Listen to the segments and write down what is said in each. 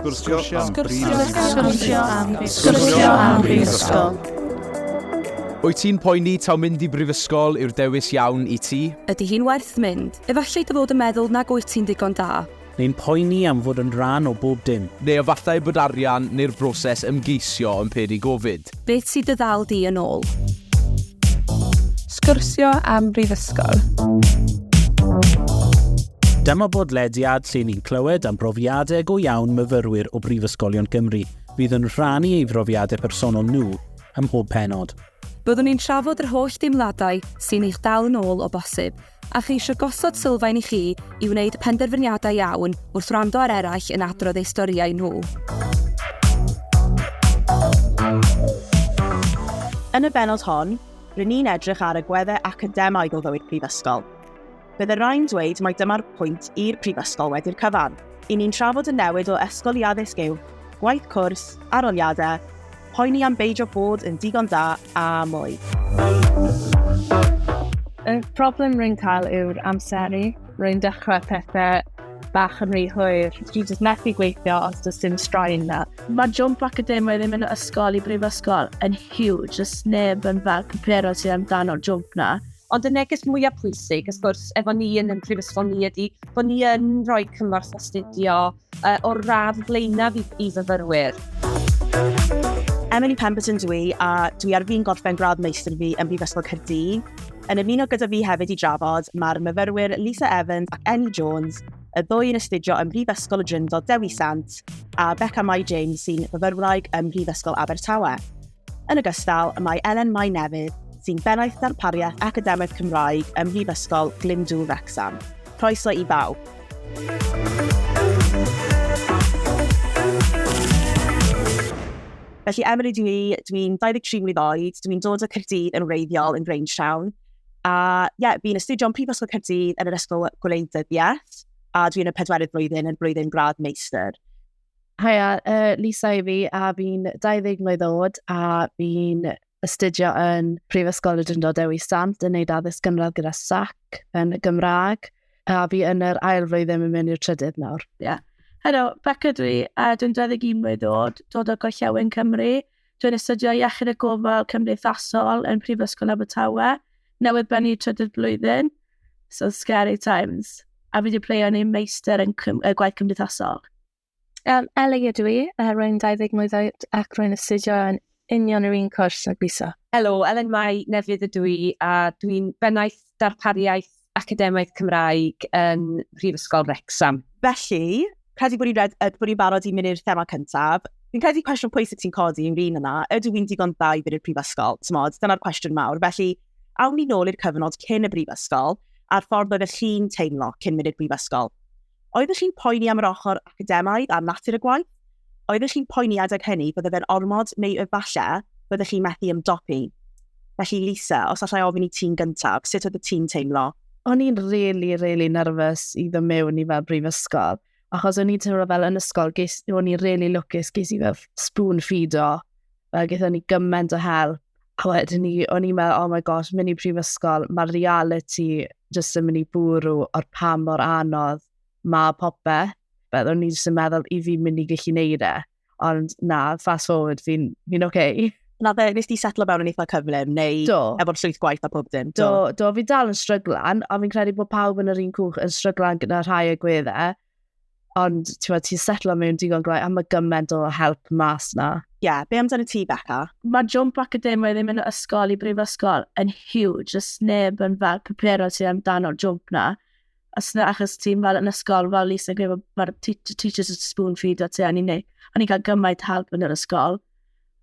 Sgwrsio am Sgwrsio am Sgwrsio am Brifysgol. Wyt ti'n poeni taw mynd i brifysgol yw'r dewis iawn i ti? Ydy hi'n werth mynd? Efallai dy fod yn meddwl nag wyt ti'n ddigon da. Neu'n poeni am fod yn rhan o bob dim. Neu efallai bod arian neu'r broses ymgeisio yn peri gofid. Beth sydd dy ddal di yn ôl? Sgwrsio am brifysgol. Dyma bodlediad lle ni'n clywed am brofiadau go iawn myfyrwyr o Brifysgolion Cymru fydd yn rhannu ei brofiadau personol nhw ym mhob penod. Byddwn ni'n trafod yr holl deimladau sy'n eich dal yn ôl o bosib, A cheisio gosod sylfaen i chi i wneud penderfyniadau iawn wrth wrando ar eraill yn adrodd eu storïau nhw. Yn y benod hon, rŷn ni'n edrych ar agweddau academaidd o fywyd prifysgol. Bydde rhai'n dweud mai dyma'r pwynt i'r prifysgol wedi'r cyfan. Y'n ni'n trafod y newid o ysgol i addysg uwch, gwaith cwrs, arholiadau, poeni am beidio bod yn digon da a mwy. Y problem rwy'n cael yw'r amseru. Rwy'n dechrau pethau bach yn rhy hwyr. Dwi jyst methu gweithio os does dim straen na. Mae jump academaidd ddim yn ysgol i brifysgol yn huge. Does neb yn fel cypero sydd amdano jump na. Ond y neges mwyaf pwysig, ys gwrs, efo ni yn y prifysgol ni ydy bod ni yn rhoi cymorth astudio uh, o'r radd flaenaf i, i fyfyrwyr. Emily Pemberton dwi, a dwi ar fi'n gorffen gradd meistr fi yn Brifysgol Caerdydd. Yn ymuno gyda fi hefyd i drafod, mae'r myfyrwyr Lisa Evans ac Enni Jones, y ddwy yn astudio ym Mhrifysgol y Dryndod Dewi Sant, a Becca Mai James sy'n fyfyrwraig ym Mhrifysgol Abertawe. Yn ogystal, y mae Elen Mai Nefydd, sy'n Bennaeth Darpariaeth Academaidd Cymraeg ym Mhrifysgol Glyndŵr Wrecsam. Croeso i bawb! Felly, Emily dw i, dw i'n 23 mlwydd oed, dw i'n dod o Caerdydd yn wreiddiol yn Grangetown, a ie, fi'n astudio ym Mhrifysgol Caerdydd yn yr Ysgol Gwleidyddiaeth, a dw i'n y pedwerydd flwyddyn yn blwyddyn gradd meistr. Haia, uh, Lisa i fi, a fi'n 20 mlynedd oed, a fi'n astudio yn Prifysgol y Drindod Dewi Sant yn neud addysg gynradd gyda SAC yn y Gymraeg, a fi yn yr ail flwyddyn yn mynd i'r trydydd nawr. Ie. Yeah. Helo, Becca dwi, a dwi'n 21 mlynedd oed, dod o Gorllewin Cymru. Dwi'n astudio Iechyd a Gofal Cymdeithasol yn Prifysgol Abertawe, newydd bennu trydydd blwyddyn, so scary times, a fi wedi pleio yn ei meistr yn cym, uh, gwaith cymdeithasol. Um, Ellie ydw i, uh, rwy'n 20 mlwydd oed ac rwy'n astudio yn union yr un cwrs ag Lisa. Helo, Elen Mai Nefydd ydw i a dwi'n bennaeth darpariaeth Academaidd Cymraeg yn Prifysgol Wrecsam. Felly, credu bod ni'n barod i mynd i'r thema cyntaf. Fi'n credu cwestiwn pwysig ti'n codi yw'r un yna, ydw i'n digon dda i fynd i'r prifysgol? Tymod, dyna'r cwestiwn mawr. Felly, awn ni nôl i'r cyfnod cyn y brifysgol, a'r ffordd oedd y chi'n teimlo cyn mynd i'r brifysgol. Oeddech chi'n poeni am yr ochr academaidd a natur y gwaith? Oeddech chi'n poeni adeg hynny bydde fe'n ormod neu efallai byddech chi'n methu ymdopi? Felly Lisa, os allai ofyn i ti'n gyntaf, sut oedd y ti'n teimlo? O'n i'n rili, really, rili really nerfus i ddod mewn i fel brifysgol, achos o'n i'n teimlo fel yn ysgol, ges, o'n i'n rili really lwcus, ges i fel spoon feed o Fel gyda ni gymaint o help. A wedyn ni, o'n i'n meddwl, oh my gosh, mynd i prifysgol, mae'r reality jyst yn mynd i bwrw o'r pa mor anodd mae popeth. Fel o'n i jyst yn meddwl i fi mynd i gallu neud e. Ond na, fast forward, fi'n fi oce. Okay. Na fe, nes ti setlo mewn yn eitha cyflym, neu do. efo'r llwyth gwaith a pob dim? Do, do, do fi dal yn stryglan, ond fi'n credu bod pawb yn yr un cwch yn stryglan gyda rhai y gwedde. Ond, ti'n ti setlo mewn digon gwaith, a mae gymaint o help mas na. Ie, yeah, be amdano ti, Becca? Mae jump academia ddim yn ysgol i brifysgol yn huge. Os neb yn fel preparo ti amdano jump na. Os na, achos ti'n fel yn ysgol, fel Lisa yn gwybod, mae'r teachers yn spoon feed o ti. A ni'n ni cael gymaint help yn yr ysgol.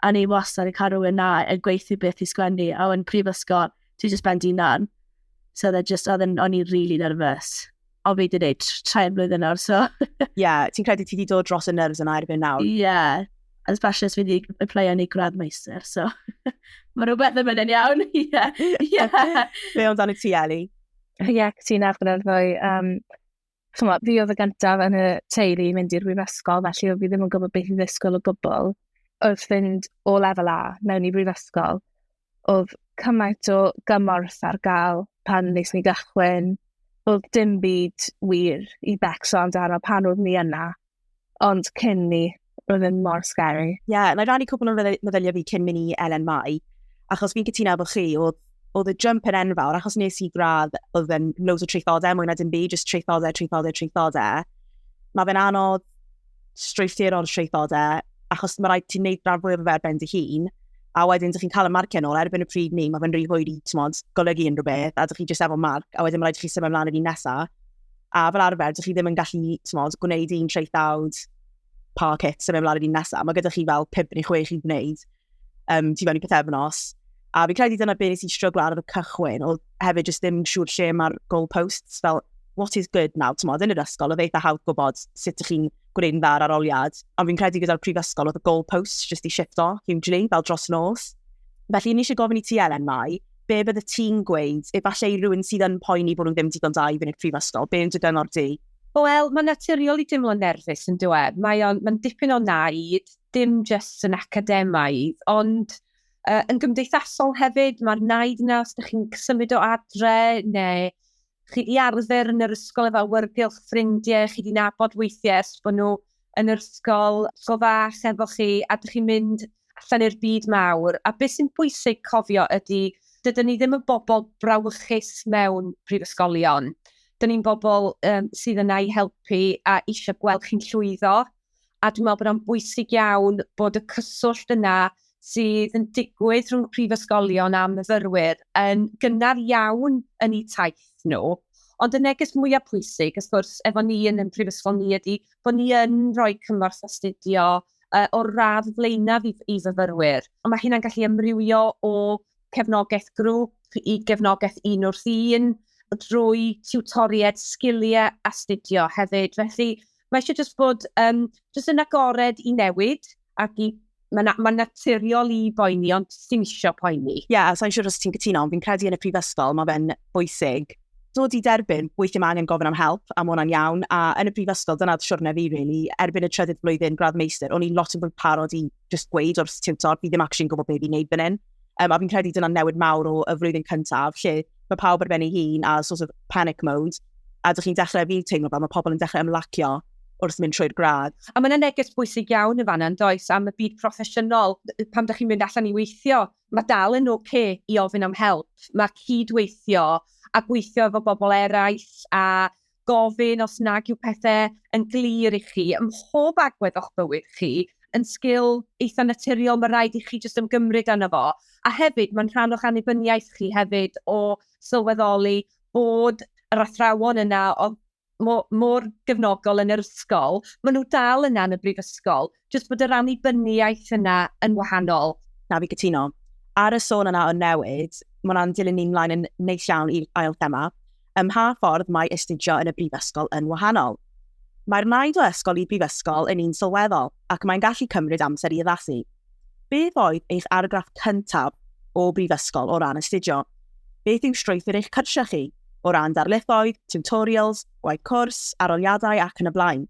A ni wastad yn cael rhywun na yn gweithio beth i sgwennu. A yn prifysgol, ti'n just ben di nan. So they're just, o'n i'n really nervous. O, fi wedi gwneud trai blwyddyn nawr, so... Ie, yeah, ti'n credu ti wedi dod dros y nerves yna erbyn nawr? Ie, yeah. as bashers fi wedi aplyio ni gradd meister, so... Mae rhywbeth yn mynd yn iawn, ie. Be ond dan y ti, Eli? Ie, yeah, ti'n ar gyda'r ddwy. Um, Chyma, fi oedd y gyntaf yn y teulu mynd i'r brifysgol, felly oedd fi ddim yn gwybod beth i ddysgol o gwbl. Oedd fynd o lefel A mewn i brifysgol, oedd cymaint o gymorth ar gael pan nes ni gychwyn. Oedd dim byd wir i becso amdano pan oedd ni yna, ond cyn ni, roedd yn mor scary. Ie, yeah, na i rannu cwbl o meddyliau fi cyn mynd i Elen Mai, achos fi'n cytuno efo chi, oedd oedd y jump yn enfawr, achos nes i gradd, oedd yn loads o treithodau, mwy na dim byd, just treithodau, treithodau, treithodau. Mae fe'n anodd strwythuro'r traethodau, achos mae rhaid ti'n neud rhan fwy o'r fer ben dy hun, a wedyn ydych chi'n cael y marciau nôl, erbyn y pryd ni, mae fe'n rhy hwyr i tmod, golygu unrhyw beth, a ydych chi jyst efo marc, a wedyn mae rhaid i chi symud ymlaen i'r un nesaf. A fel arfer, ydych chi ddim yn gallu tmod, gwneud un traethawd pa cit symud ymlaen i'r un nesaf. Mae gyda chi fel 5 neu 6 i wneud. um, ti fewn i pethefnos. A fi'n credu dyna beth nes i stryglo ar y cychwyn, oedd hefyd jyst ddim siŵr lle mae'r goalposts, fel what is good now, ti'n modd, yn yr ysgol, oedd eitha hawdd gwybod sut ych chi'n gwneud yn dda ar aroliad. Ond fi'n credu gyda'r prifysgol oedd y goalposts jyst i shifto hugely, fel dros nos. Felly, ni eisiau gofyn i ti, Elen, mai, be bydde ti'n gweud, efallai i rhywun sydd yn poeni bod nhw'n ddim digon da i fynd i'r prifysgol, be yn dy gyngor di? Wel, mae'n naturiol i dimlo'n nerfus yn dweud. Mae'n mae dipyn o naid, dim jyst yn academaidd, ond uh, yn gymdeithasol hefyd, mae'r naid yna os ydych chi'n symud o adre neu chi wedi arfer yn yr ysgol efo awyrgylch ffrindiau, chi wedi nabod weithiau ers bod nhw yn yr ysgol, ysgol fach efo chi, a ydych chi'n mynd allan i'r byd mawr. A beth sy'n bwysig cofio ydy, dydyn ni ddim yn bobl brawychus mewn prifysgolion. Dyn ni'n bobl um, sydd yna i helpu a eisiau gweld chi'n llwyddo. a dwi'n meddwl bod o'n bwysig iawn bod y cyswllt yna sydd yn digwydd rhwng prifysgolion a myfyrwyr yn gynnar iawn yn eu taith nhw. Ond y neges mwyaf pwysig, ys gwrs, efo ni yn y prifysgol ni ydy bod ni yn rhoi cymorth astudio uh, o'r radd flaenaf i, i fyfyrwyr. Ond mae hynna'n gallu ymrywio o cefnogaeth grŵp i gefnogaeth un wrth un, drwy tiwtoriaid sgiliau astudio hefyd. Felly, mae eisiau jyst bod um, jyst yn agored i newid ac i mae'n ma naturiol i boeni, ond ti'n eisiau poeni. Ie, yeah, sa'n siŵr os ti'n cytuno, ond fi'n credu yn y prifysgol, mae fe'n bwysig dod i derbyn, weithio mae angen gofyn am help, am hwnna'n iawn, a yn y prifysgol, dyna siwrne fi, really, erbyn y trydydd blwyddyn gradd meistr, o'n i'n lot yn fwy parod i just gweud o'r tiwtor, fi ddim actually'n gwybod beth i'n neud fan hyn. Um, a fi'n credu dyna'n newid mawr o y flwyddyn cyntaf, lle mae pawb ar ben ei hun a sort of panic mode, a dych chi'n dechrau, fi'n teimlo fel, mae pobl yn dechrau ymlacio wrth mynd trwy'r gradd. A mae'n neges bwysig iawn yn fanna, yn does, am y byd proffesiynol, pam da chi'n mynd allan i weithio, mae dal yn oce okay i ofyn am help, mae cydweithio a gweithio efo bobl eraill a gofyn os nag yw pethe yn glir i chi ym mhob agwedd o'ch bywyd chi, yn sgil eitha naturiol ma' raid i chi jyst ymgymryd âno fo, a hefyd ma'n rhan o'ch annibyniaeth chi hefyd o sylweddoli bod yr athrawon yna o'dd mo- mor gefnogol yn yr ysgol, ma' nhw dal yna yn y brifysgol, jyst bod yr annibyniaeth yna yn wahanol. Na, fi gytuno. Ar y sôn yna o newid, mae hwnna'n dilyn ni mlaen yn neis iawn i'r ail thema. Ym mha ffordd mae astudio yn y brifysgol yn wahanol? Mae'r naid o ysgol i brifysgol yn un sylweddol ac mae'n gallu cymryd amser i addasu. Beth oedd eich argraff cyntaf o brifysgol o ran astudio? Beth yw strwythur eich cyrsiau chi? O ran darlithoedd, tutorials, gwaith cwrs, aroliadau ac yn y blaen.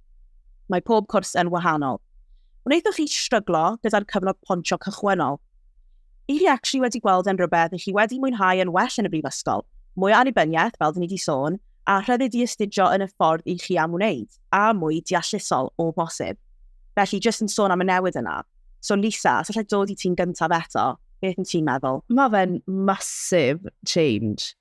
Mae pob cwrs yn wahanol. Wnaethoch chi stryglo gyda'r cyfnod pontio cychwynnol? I chi actually wedi gweld yn rhywbeth i chi wedi mwynhau yn well yn y brifysgol? Mwy o annibyniaeth, fel dyn ni wedi sôn, a rhyddid i astudio yn y ffordd i chi am wneud, a mwy deallusol o bosib. Felly, jyst yn sôn am y newid yna. So Lisa, os allai dod i ti'n gyntaf eto, beth yn ti'n meddwl? Mae fe'n massive change.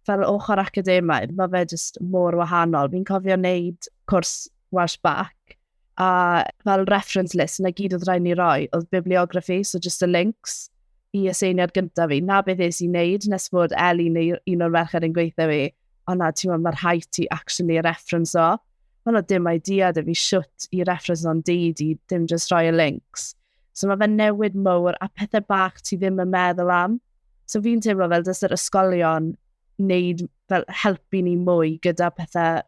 fel ochr academaidd, mae fe jyst mor wahanol. Fi'n cofio wneud cwrs Welsh Back, a fel reference list, na gyd oedd rhaid ni roi, oedd bibliography, so just y links i y seiniad gyntaf fi. Na beth eis i wneud, nes bod Eli neu un o'r merched yn gweithio fi, o na, ti'n meddwl, mae'r rhaid ti actually reference o. Ond oedd dim idea da fi siwt i reference o'n deud i, dim just rhoi y links. So mae fe newid mowr a pethau bach ti ddim yn meddwl am. So fi'n teimlo fel dys yr ysgolion wneud fel helpu ni mwy gyda pethau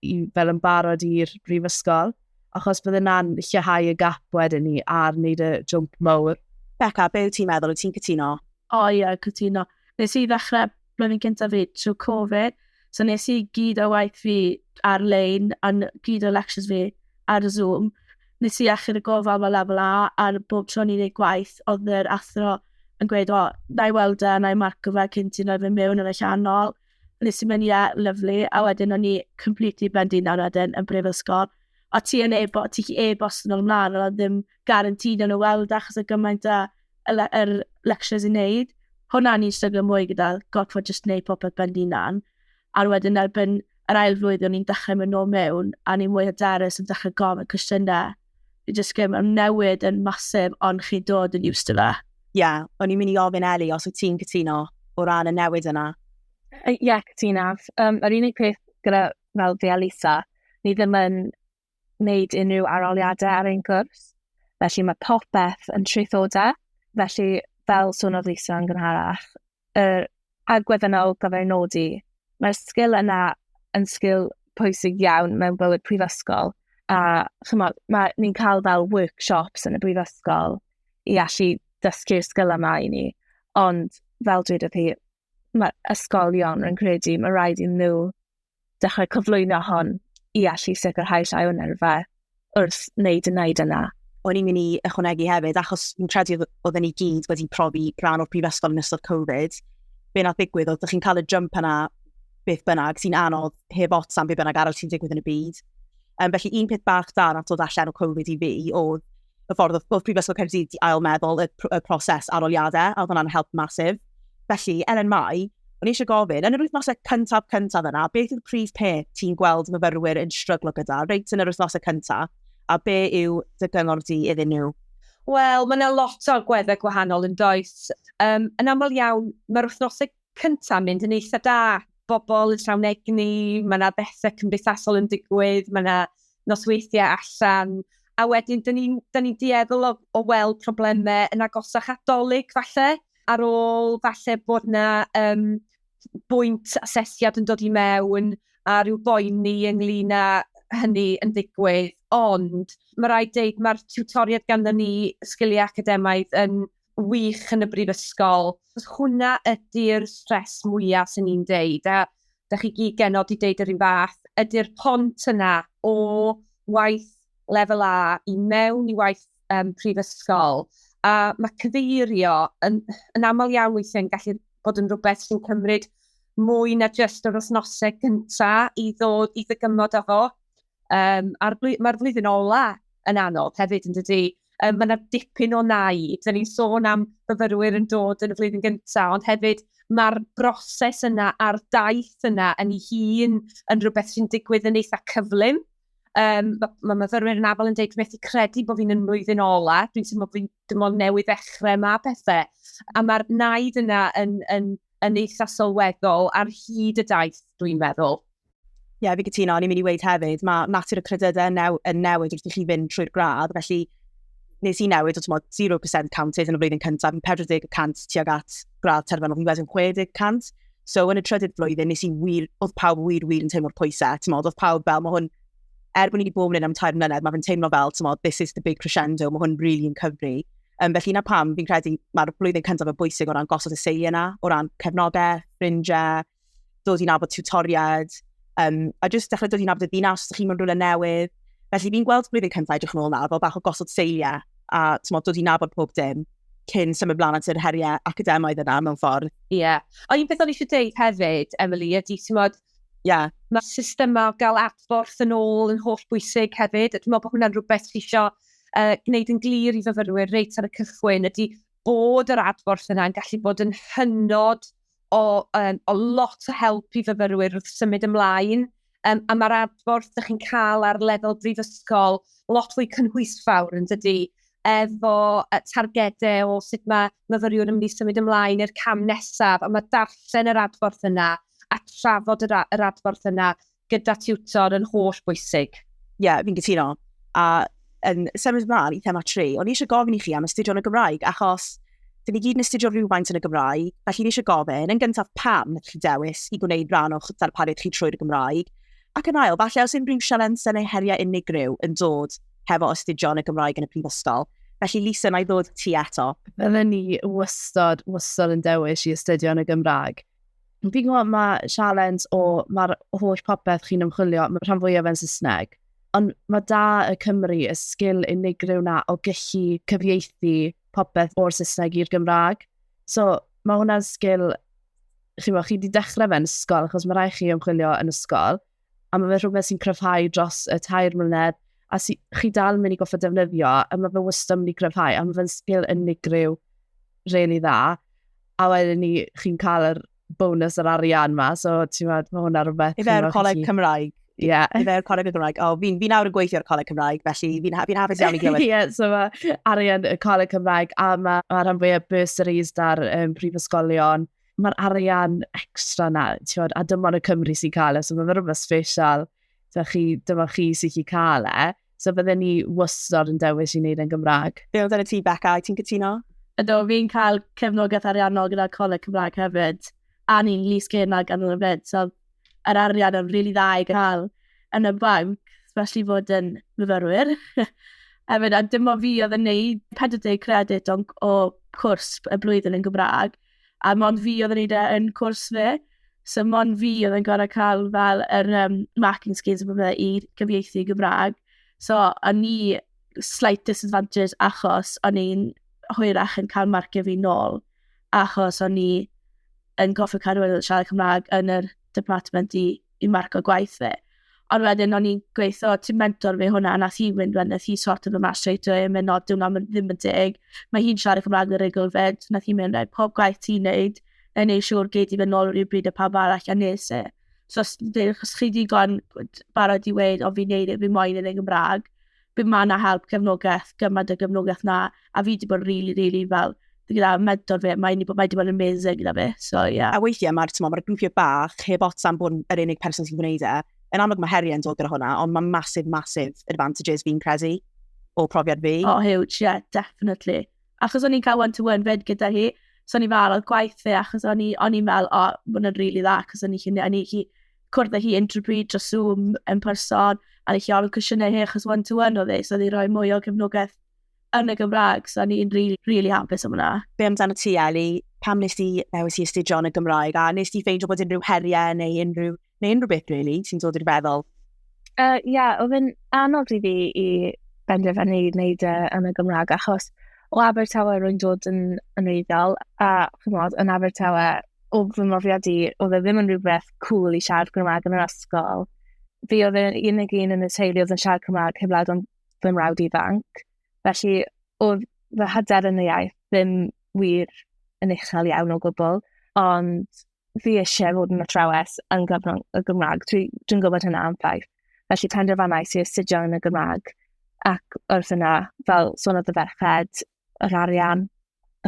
i, fel yn barod i'r brifysgol, achos bydd yna'n lleihau y gap wedyn ni ar wneud y jwmp mawr. Becca, be wyt ti'n meddwl? Wyt ti'n cytuno? O oh, ie, yeah, cytuno. Nes i ddechrau blwyddyn cyntaf fi trwy Covid, so nes i gyd o waith fi ar-lein, a gyd o lectures fi ar Zoom, Nes i achub y gofal fel lefel A, ar bob tro o'n i'n neud gwaith, odd yr athro yn gweud, o, na i weld e, na i marco fe cyn ti roi fe mewn yn y llanol. Nes i mynd, ie, lyfli, a wedyn o'n i completely ben dyn nawr wedyn yn brifysgol. O ti yn ebo- ti gallu e-bost nhw mlan, ond oedd ddim guaranteed o'n nhw weld e, achos oedd gymaint o y le- yr lectures i neud. Hwnna o'n i'n stryglo mwy gyda, gorfod jyst neud popeth ben dyn nan. a wedyn erbyn yr ail flwyddyn ni'n dechrau mynd nôl mewn, a ni'n mwy hyderus yn dechrau gofyn cwestiynau. Fi jyst gym, am newid yn masif, ond chi'n dod yn used to fe. Ie, yeah, o'n i'n mynd i ofyn Eli os wyt ti'n cytuno o ran y newid yna. Ie, yeah, cytunaf. Um, yr unig peth gyda fel fi a Lisa, ni ddim yn wneud unrhyw aroliadau ar ein cwrs. Felly mae popeth yn traethodau. Felly, fel swniodd Lisa yn gynharach, yr agwedd yna o gael ei nodi, mae'r sgil yna yn sgil pwysig iawn mewn bywyd prifysgol. A chymod, mae, ni'n cael fel workshops yn y brifysgol i allu dysgu'r sgil yma i ni. Ond fel dweud wrth chi, mae ysgolion, rwy'n credu, mae rhaid i nhw dechrau cyflwyno hon i allu sicrhau llai o nerfau wrth wneud y wneud yna. O'n i'n mynd i ychwanegu hefyd, achos fi'n credu oedd ni gyd wedi profi rhan o'r prifysgol yn ystod Covid, be nath ddigwydd oedd, ydych chi'n cael y jump yna beth bynnag, sy'n anodd heb ots am beth bynnag arall sy'n digwydd yn y byd. Um, felly un peth bach da nath dod allan o Covid i fi oedd y ffordd oedd, oedd Prifysgol Caerdydd di ail meddwl y, pr y proses aroliadau, a oedd hwnna'n help masif. Felly, er yn mai, o'n eisiau gofyn, yn yr wythnosau cyntaf cyntaf yna, beth yw'r prif peth ti'n gweld myfyrwyr yn stryglo gyda, reit yn yr wythnosau cyntaf, a be yw dy gyngor di iddyn nhw? Wel, mae yna lot o agweddau gwahanol yn does. Um, yn aml iawn, mae'r wythnosau cynta mynd yn eitha da, bobl yn llawn egni, mae yna bethau cymdeithasol yn digwydd, mae yna nosweithiau allan, a wedyn dyn ni'n ni dueddol o, o weld problemau yn agosach at dolyg falle, ar ôl falle bod yna um, bwynt asesiad yn dod i mewn a rhyw boeni ynglyn â hynny yn digwydd, ond mae rhaid deud mae'r tiwtoriad ganddyn ni sgiliau academaidd yn wych yn y brifysgol. Hwnna ydy'r stress mwya sy'n i'n deud, a da chi gyd genod i deud yr un fath, ydy'r pont yna o waith lefel A i mewn i waith um, prifysgol. A mae cyfeirio yn, yn aml iawn weithiau'n gallu bod yn rhywbeth sy'n cymryd mwy na jyst yr wythnosau gyntaf i ddod i ddygymod â fo. Um, a'r bly, mae'r flwyddyn ola yn anodd hefyd, yn dydy. Um, mae yna dipyn o nai. Dyna ni'n sôn am fyfyrwyr yn dod yn y flwyddyn gyntaf, ond hefyd mae'r broses yna a'r daith yna yn ei hun yn rhywbeth sy'n digwydd yn eitha cyflym. Um, mae ma myfyrwyr yn afol yn dweud, dwi'n methu credu bod fi'n yn mlwyddyn ola, dwi'n teimlo bod fi'n dim ond newydd ddechrau yma pethau. A mae'r naid yna yn, yn, yn eitha sylweddol ar hyd y daith, dwi'n meddwl. Ie, yeah, fi gytuno, o'n i'n mynd i weid hefyd, mae natur y credydau yn, new, yn newid wrth i chi fynd trwy'r gradd, felly nes i newid o tymod 0% counted yn y flwyddyn cyntaf, yn 40% tuag at gradd terfynol, fi'n wedyn 60%. So yn y trydydd flwyddyn, nes i wir, oedd pawb wir, wir yn teimlo'r pwysau, tymod, oedd pawb fel, mae hwn er bod ni wedi bod yn un am tair mlynedd, mae fe'n teimlo fel, tymod, this is the big crescendo, mae hwn rili really yn cyfri. Um, felly na pam, fi'n credu mae'r blwyddyn cyntaf yn bwysig o ran gosod y seiliau yna, o ran cefnogau, ffrindiau, dod i'n abod tutoriaid, um, a jyst dechrau dod i'n abod y ddinas os chi'n mynd rhywle newydd. Felly fi'n gweld blwyddyn cyntaf edrych yn ôl nawr fel bach o gosod seiliau a tymod, dod i'n abod pob dim cyn symud blaen at yr heriau academaidd yna mewn ffordd. Ie. Yeah. O, un peth o'n eisiau dweud hefyd, Emily, ydy, ti'n modd, Ie. Mae system o gael adborth yn ôl yn holl bwysig hefyd. Dwi'n meddwl bod hwnna'n rhywbeth sy'n eisiau uh, gwneud yn glir i fyfyrwyr reit ar y cychwyn ydy bod yr adborth yna yn gallu bod yn hynod o, um, o lot o help i fyfyrwyr wrth symud ymlaen. Um, a mae'r adborth ydych chi'n cael ar lefel brifysgol lot fwy cynhwysfawr yn dydy. efo targedau o sut mae myfyriwr yn mynd i symud ymlaen i'r cam nesaf, a mae darllen yr adborth yna a trafod yr, yr adborth yna gyda tiwtor yn holl bwysig. Ie, yeah, fi'n gytuno. A yn symud ymlaen i thema 3, o'n i eisiau gofyn i chi am astudio yn y Gymraeg, achos dyn ni gyd yn astudio rhywfaint yn y Gymraeg, felly ni eisiau gofyn, yn gyntaf pam chi dewis i gwneud rhan o'ch darpariaeth chi trwy'r Gymraeg, ac yn ail, falle os unrhyw sialensau neu heriau unigryw yn dod hefo astudio yn y Gymraeg yn y prifysgol. Felly, Lisa, na i ddod ti eto. Bydden ni wystod, wystod yn dewis i astudio yn y Gymraeg. Fi'n gwybod mae sialens o mae'r holl popeth chi'n ymchwilio, mae rhan fwyaf yn Saesneg. Ond mae da y Cymru y sgil unigryw na o gallu cyfieithu popeth o'r Saesneg i'r Gymraeg. So, mae hwnna'n sgil, chi'n chi wedi dechrau fe'n ysgol, achos mae rhaid chi ymchwilio yn ysgol, a mae fe rhywbeth sy'n cryfhau dros y tair mlynedd, a si, chi dal yn mynd i goffa defnyddio, a mae fe wastad yn mynd i gryfhau, a mae fe'n sgil unigryw really dda, a wedyn ni chi'n cael yr bonus yr arian ma, so ti'n meddwl, mae hwnna rhywbeth... I fe'r coleg chi... Cymraeg. Ie. Yeah. I fe'r coleg y Gymraeg. O, oh, fi'n fi nawr yn gweithio'r coleg Cymraeg, felly fi'n fi hafus iawn i glywed. Ie, yeah, so mae arian y coleg Cymraeg, a mae ma rhan fwyaf bursaries da'r um, prifysgolion, mae'r arian extra na, tiwod, a dyma y Cymru sy'n cael e, so mae'n rhywbeth special, so chi, dyma chi sy'n chi cael e. So bydde ni wastad yn dewis i wneud e'n Gymraeg. Be oedd yn y ti, Becca, i ti'n cytuno? Ydw, fi'n cael cefnogaeth ariannol gyda Coleg Cymraeg hefyd, a ni'n lys gena gan y fyd, so yr arian yn rili really dda i gael yn y banc, especially fod yn myfyrwyr. Hefyd, a dim o fi oedd yn neud 40 credit o, o cwrs y blwyddyn yn Gymraeg, a mond fi oedd yn neud e yn cwrs fi. So mond fi oedd yn gorau cael fel yr um, marking schemes a bethau i gyfieithu i Gymraeg. So o'n ni slight disadvantage achos o'n i'n hwyrach yn cael marcio fi nôl achos o'n i yn goffi cadw yn siarad Cymraeg yn yr department i i marco gwaith fi. Ond wedyn o'n i'n gweithio, ti'n mentor fi hwnna, nath hi fynd wedyn, nath hi sort of yma straight away, yn mynd, no, diwna ddim yn deg. Mae hi'n siarad Cymraeg yn rigl fyd, nath hi mynd, right, pob gwaith ti'n neud, na i neud siŵr gei di fynd nôl o'r un bryd y pawb arall a nes e. So, os chi digon barod i weid, o fi'n neud e, fi moyn yn ei Gymraeg, Bydd ma na help, cefnogaeth, gymaint o gefnogaeth na, a fi wedi bod rili, rili fel, gyda mentor fi, mae wedi bod, mae wedi bod yn amazing gyda fi, so ie. Yeah. A weithiau mae'r, ti'n mae'r grwpiau bach, heb ots am bod yr unig person sy'n gwneud e, yn amlwg mae heriau'n dod gyda hwnna, ond mae massive, massive advantages fi'n credu o profiad fi. Oh, huge, yeah, definitely. Achos o'n i'n cael one-to-one fyd gyda hi, so o'n i'n fel, oedd gwaith fi, achos o'n i'n fel, o, oh, mae'n rili really dda, achos o'n i'n hi, cwrdd â hi unrhyw bryd dros Zoom yn person, a nes i ofyn cwestiynau hi achos one to one oedd e, so oedd hi'n rhoi mwy o gefnogaeth yn y Gymraeg, so o'n i'n rili, rili hapus am hwnna. Be amdano ti, Eli? Pam nes di ddewis i astudio yn y Gymraeg, a nes di ffeindio bod unrhyw heriau neu unrhyw, neu unrhyw beth, really, sy'n dod i'r feddwl? Ie, uh, yeah, oedd yn anodd i fi i benderfynu i wneud e yn y Gymraeg, achos o Abertawe rwy'n dod yn, yn eiddiol, a chymod, yn Abertawe, o fy mrofiad i, oedd e ddim yn rhywbeth cool i siarad Gymraeg yn yr ysgol. Fi oedd yn unig un yn y teulu oedd yn siarad Cymraeg heb lawd o'n fy mrawd ifanc. Felly, oedd fy hyder yn y iaith ddim wir yn uchel iawn o gwbl, ond fi eisiau fod yn athrawes yn gyfrwng y Gymraeg. Dwi'n dwi gwybod hynna am ffaith. Felly penderfynais i astudio yn y Gymraeg ac wrth yna, fel sôn oedd y ferched, yr arian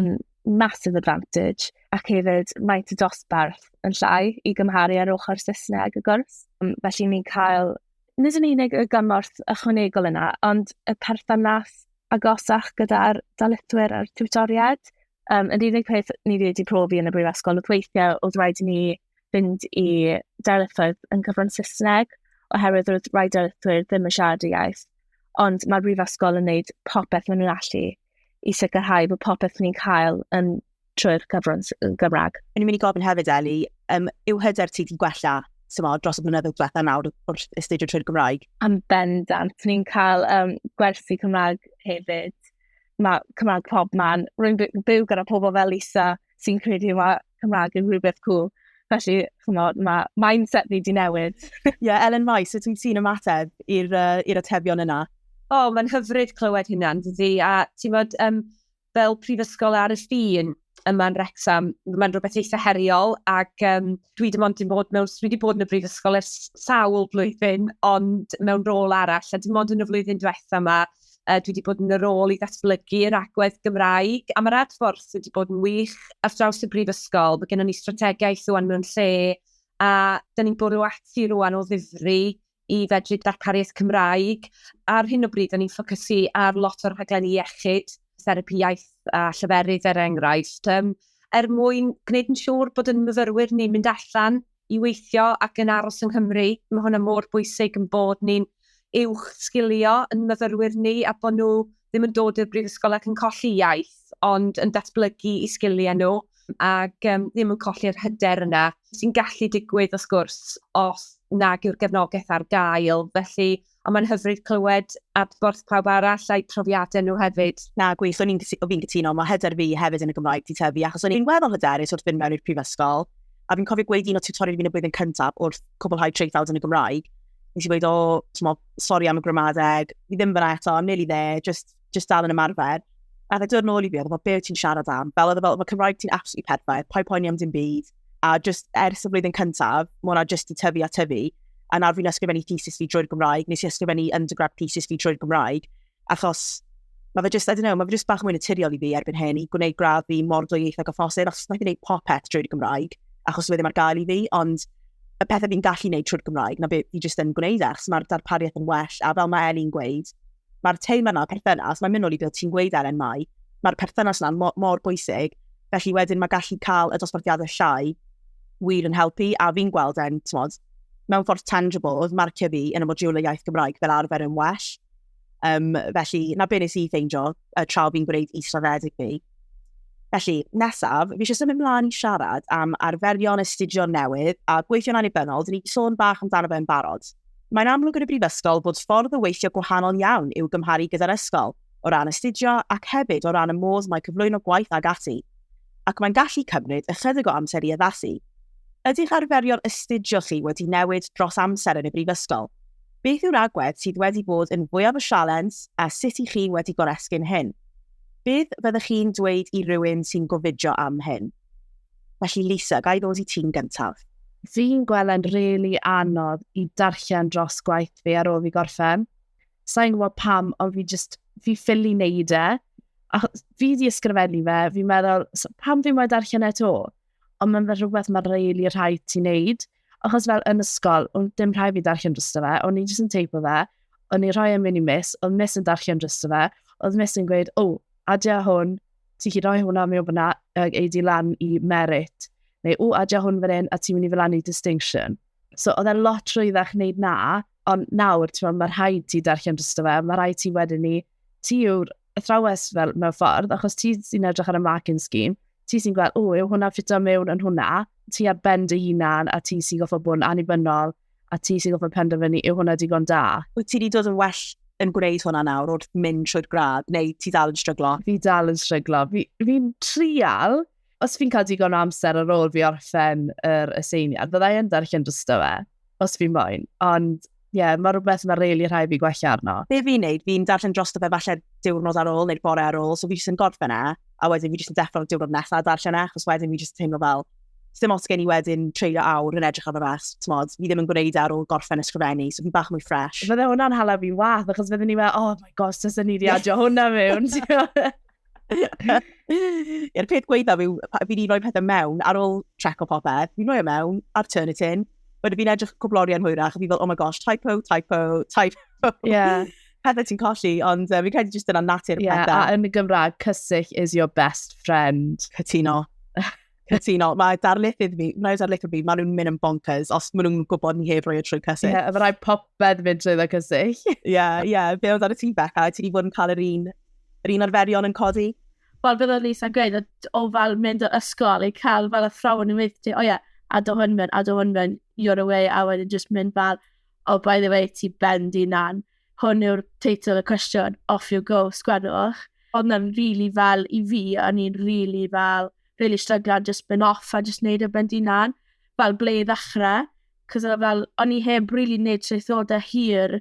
yn massive advantage, ac hefyd mae y dosbarth yn llai i gymharu ar ochr Saesneg y gwrs. Felly ni'n cael nid yn unig y gymorth ychwanegol yna, ond y perthynas agosach gyda'r dalitwyr a'r tiwtoriaid. Um, yr unig peth ni wedi profi yn y brifysgol oedd weithiau oedd rhaid i ni fynd i darlithoedd yn cyfrwng Saesneg, oherwydd roedd rhai darlithwyr ddim yn siarad y iaith. Ond mae'r brifysgol yn gwneud popeth maen nhw'n allu i sicrhau bod popeth ni'n cael yn trwy'r cyfrwng Gymraeg. O'n i'n mynd i gofyn hefyd, Eli, um, yw hyder ti wedi gwella symo, dros y blynyddoedd diwetha nawr wrth astudio trwy'r Gymraeg? Am bendant. Ni'n cael um, gwersi Cymraeg hefyd. Mae Cymraeg pob man. Rwy'n byw gyda pobl fel Lisa sy'n credu mae Cymraeg yn rhywbeth cool. Felly, chymod, mae mindset ni di newid. Ie, yeah, Ellen Mai, sut wyt ti'n ymateb i'r uh, atebion yna? O, oh, mae'n hyfryd clywed hynna, dydy. A ti'n bod, um, fel prifysgol ar y ffin yma'n Rexham, mae'n rhywbeth eitha heriol, ac um, dwi dim ond dim bod mewn, dwi wedi bod yn y brifysgol ers sawl blwyddyn, ond mewn rôl arall, a dim ond yn y flwyddyn diwetha yma, Cymraeg. Dwi wedi bod yn y rôl i ddatblygu yr agwedd Gymraeg, a mae'r adborth wedi bod yn wych ar draws y Brifysgol. Mae gennym ni strategaeth rwan mewn lle, a da ni'n bwrw ati rwan o ddifri i fedru darpariaeth Cymraeg. Ar hyn o bryd, da ni'n ffocysu ar lot o'r rhaglenni iechyd, therapi iaith a lleferydd er enghraifft, um, er mwyn gwneud yn siŵr bod yn myfyrwyr ni'n mynd allan i weithio ac yn aros yng Nghymru. Mae hwnna mor bwysig yn bod ni'n uwch sgilio yn myfyrwyr ni a bod nhw ddim yn dod i'r brifysgol ac yn colli iaith ond yn datblygu i sgiliau nhw ac um, ddim yn colli'r hyder yna sy'n gallu digwydd wrth gwrs os nag yw'r gefnogaeth ar gael. Felly Ond mae'n hyfryd clywed adborth pawb arall a'u profiadau nhw hefyd. Na, gwych, o'n i'n cytuno, mae hyder fi hefyd yn y Gymraeg 'di tyfu, achos o'n i'n weddol hyderus wrth fynd mewn i'r prifysgol, a fi'n cofio gweud un o tiwtoriaid fi yn y blwyddyn cyntaf wrth cwblhau traethawd yn y Gymraeg, nes i weud, o, t'mo, sori am y gramadeg, fi ddim fyna eto, I'm nearly there, just just dal yn ymarfer. A fe dod nôl i fi, oedd fel, be wyt ti'n siarad am? Fel oedd e fel, mae Cymraeg ti'n absolutely perffaith, pa'i poeni am dim byd. A just ers y flwyddyn cyntaf, mae hwnna just i tyfu a tyfu. A nawr fi'n ysgrifennu thesis fi drwy'r Gymraeg, nes i ysgrifennu undergrad thesis fi drwy'r Gymraeg. Achos mae fe just, I don't know, mae fe just bach mwy naturiol i fi erbyn hyn i gwneud gradd fi mor dwyieithog o phosib, achos mae'n gwneud popeth drwy'r Gymraeg, achos wedi mae'r gael i fi, ond y pethau fi'n gallu gwneud trwy'r Gymraeg, na beth fi jyst yn gwneud e, achos mae'r darpariaeth yn well, a fel mae Eli'n gweud, Mae'r teim yna, perthynas, mae'n mynd nôl i beth ti'n gweud Elen Mai, mae'r perthynas yna mor, mor bwysig, felly wedyn mae gallu cael y dosbarthiadau llai wir yn helpu, a fi'n gweld e'n, tmod, mewn ffordd tangible, oedd marcio fi yn y modiwl y iaith Gymraeg fel arfer yn well. Um, felly, na be nes i ffeindio, y tra fi'n gwneud israddedig fi. Felly, nesaf, fi eisiau symud ymlaen i siarad am arferion astudio newydd a gweithio'n annibynnol, dyn ni wedi sôn bach amdano fe yn barod. Mae'n amlwg yn y brifysgol bod ffordd o weithio gwahanol iawn i'w gymharu gyda'r ysgol, o ran astudio ac hefyd o ran y modd mae cyflwyno gwaith ag ati. Ac mae'n gallu cymryd ychydig o amser i addasu. Ydych arferion astudio chi wedi newid dros amser yn y brifysgol? Beth yw'r agwedd sydd wedi bod yn fwyaf y sialens a sut i chi wedi goresgyn hyn? Beth fyddech chi'n dweud i rywun sy'n gofidio am hyn? Felly Lisa, ga i ddod i ti'n gyntaf? Fi'n gweld e'n rili anodd i darllen dros gwaith fi ar ôl fi gorffen. Sa i'n gwybod pam, ond fi jyst, fi ffili neud e. A fi di ysgrifennu fe, fi'n meddwl, pam fi moyn darllen e to? Ond mae'n fel rhywbeth mae'n rili rhaid ti neud. Achos fel yn ysgol, o'n dim rhaid fi darllen drosto fe, o'n i jyst yn teipo fe, o'n i rhoi yn mynd i mis, oedd mis yn darllen drosto fe, oedd mis yn gweud, o, adia hwn, ti chi roi hwnna mewn fyna, ag ei di lan i merit, neu o, adia hwn fan hyn, a ti'n mynd i fel lan i distinction. So, oedd e lot rhwyddach wneud na, ond nawr, ti'n mae'r rhaid ti darllen drosto fe, mae rhaid ti wedyn ni ti yw'r athrawes fel mewn ffordd, achos ti sy'n edrych ar y marking scheme, ti sy'n gweld, o, yw hwnna'n ffito mewn yn hwnna, ti ar bend y hunan, a ti sy'n goffa bod yn annibynnol, a ti sy'n goffa penderfynu, yw hwnna digon da. Wyt ti wedi dod yn well yn gwneud hwnna nawr wrth mynd trwy'r gradd, neu ti dal yn stryglo? Fi dal yn stryglo. Fi'n fi trial os fi'n cael digon o amser ar ôl fi orffen yr aseiniad, fyddai yn darllen dysto fe, os fi'n moyn. Ond, ie, yeah, mae rhywbeth mae'n reili rhai fi gwella arno. Be fi'n neud, fi'n darllen drosto fe falle diwrnod ar ôl neu'r bore ar ôl, so fi jyst yn gorffen e, a wedyn fi jyst yn deffro'r diwrnod nesaf a darllen e, achos wedyn fi jyst yn teimlo fel, ddim os gen i wedyn treulio awr yn edrych ar y ras, ti'n modd, fi ddim yn gwneud e ar ôl gorffen ysgrifennu, so fi bach mwy ffres. Fydde hwnna'n hala fi'n wath, achos fydde ni fel, oh my gosh, tys ni di adio hwnna mewn. Yw'r peth gweithaf yw, fi'n i'n rhoi pethau mewn, ar ôl trec o popeth, fi'n rhoi e mewn, ar turn it in, wedyn fi'n edrych cwblori yn hwyrach, a fi fel, oh my gosh, typo, typo, typo. Yeah. pethau ti'n colli, ond uh, fi'n credu jyst yna natur y yeah, pethau. A yn y Gymraeg, cysill is your best friend. Cytuno. Cytuno, mae darlithydd fi, mae darlithydd fi, maen nhw'n mynd yn bonkers os maen nhw'n gwybod ni heb roi y trwy cysyll. Ie, yeah, mae rhaid popeth mynd trwy dda cysyll. Ie, yeah, ie, yeah. fe oedd ar y ti Becca, ti wedi bod yn cael yr un, yr un arferion yn codi? Wel, bydd o'n Lisa gweud, o fel mynd o'r ysgol i cael fel athrawon yn mynd, o ie, a do hwn mynd, a do hwn mynd, you're away, a wedyn just mynd fel, oh, by the way, ti bendi na'n. Hwn yw'r teitl y cwestiwn, off you go, sgwennwch. Oedd na'n rili fel, i fi, o'n i'n rili fel, rili stryglan jyst mynd off a jyst neud e ben dy unan, fel ble i ddechre, 'c'os o' fel, o'n i heb rili neud traethode hir